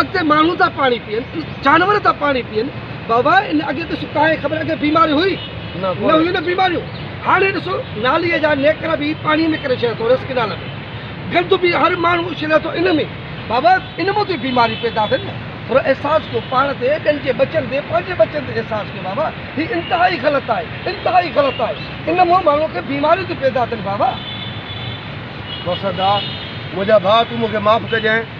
اڳتي ماڻهو ٿا پاڻي پيئن جانور ٿا پاڻي پيئن بابا ان اڳي ته ستا هي خبر اڳي بيماري هئي نه هيون نه بيماريون هاڻي ڏسو نالي جا نيڪر به پاڻي ۾ ڪري ڇڏيا ٿو رس ڪنال ۾ گند به هر ماڻهو اڇلي ٿو ان ۾ بابا ان مان ٿي بيماري پيدا ٿين ٿورو احساس ڪيو پاڻ تي ٻين جي ٻچن تي پنهنجي ٻچن تي احساس ڪيو بابا هي انتهائي غلط آهي انتهائي غلط آهي ان مان ماڻهو کي بيماريون ٿيون پيدا ٿين بابا وسدا منهنجا ڀاء تون مون کي معاف ڪجانء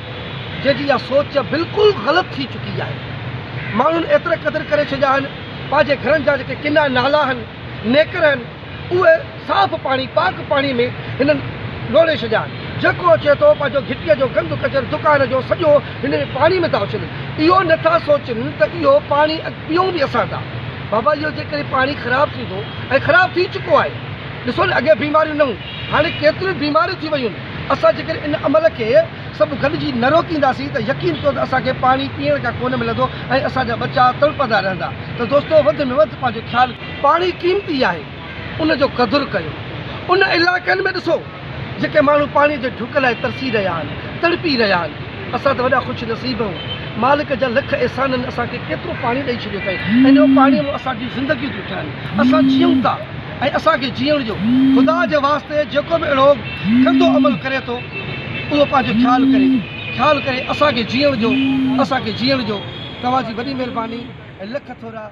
جنهن جي اها سوچ بلڪل غلط ٿي چڪي آهي. ماڻهن ايترا قدر ڪري ڇڏيا آهن، پنهنجي گهرن جا جيڪي ڪنا، نالا آهن، نيڪر آهن، اهي صاف پاڻي، پاڪ پاڻي ۾ هنن لوڙهي ڇڏيا آهن. جيڪو اچي ٿو، پنهنجو گهٽيء جو گند ڪچر دڪان جو سڄو هن پاڻي ۾ ٿا اڇلن. اهو نه ٿا سوچن ته اهو پاڻي اڳ پيئون به اسان ٿا. بابا اهو جيڪڏهن پاڻي خراب ٿيندو ۽ خراب ٿي چڪو آهي. ڏسو نه اڳي بيماريون نه هيون. هاڻي ڪيتريون ئي بيماريون ٿي ويون آهن، اسان جيڪڏهن ان عمل کي سڀ گڏجي نه روڪينداسين ته يقين ڪيو ته اسان کي پاڻي پيئڻ ڪا ڪونه ملندو ۽ اسان جا ٻچا تڙپندا رهندا ته دوستو وڌ ۾ وڌ پنهنجو خيال پاڻي قيمتي آهي ان جو قدر ڪيو ان علائقن ۾ ڏسو جيڪي ماڻهو پاڻي جي ڍڪ لاء ترسي رهيا آهن تڙپي رهيا آهن اسان ته وڏا خوش نصيب آهيون مالڪ جا لک احسانن اسان کي ڪيترو پاڻي ڏئي ڇڏيو اٿئي ۽ ان پاڻي مان اسان جون زندگيون ٿيون ٺهن اسان جيئون ٿا. ۽ اسان کي جيئڻ ڏيو. خدا جي واسطي جيڪو به اهڙو گندو عمل ڪري ٿو اهو پنهنجو خيال ڪري خيال ڪري اسان کي جيئڻ ڏيو اسان کي جيئڻ ڏيو توهان جي وڏي مهرباني ۽ لک ٿورا.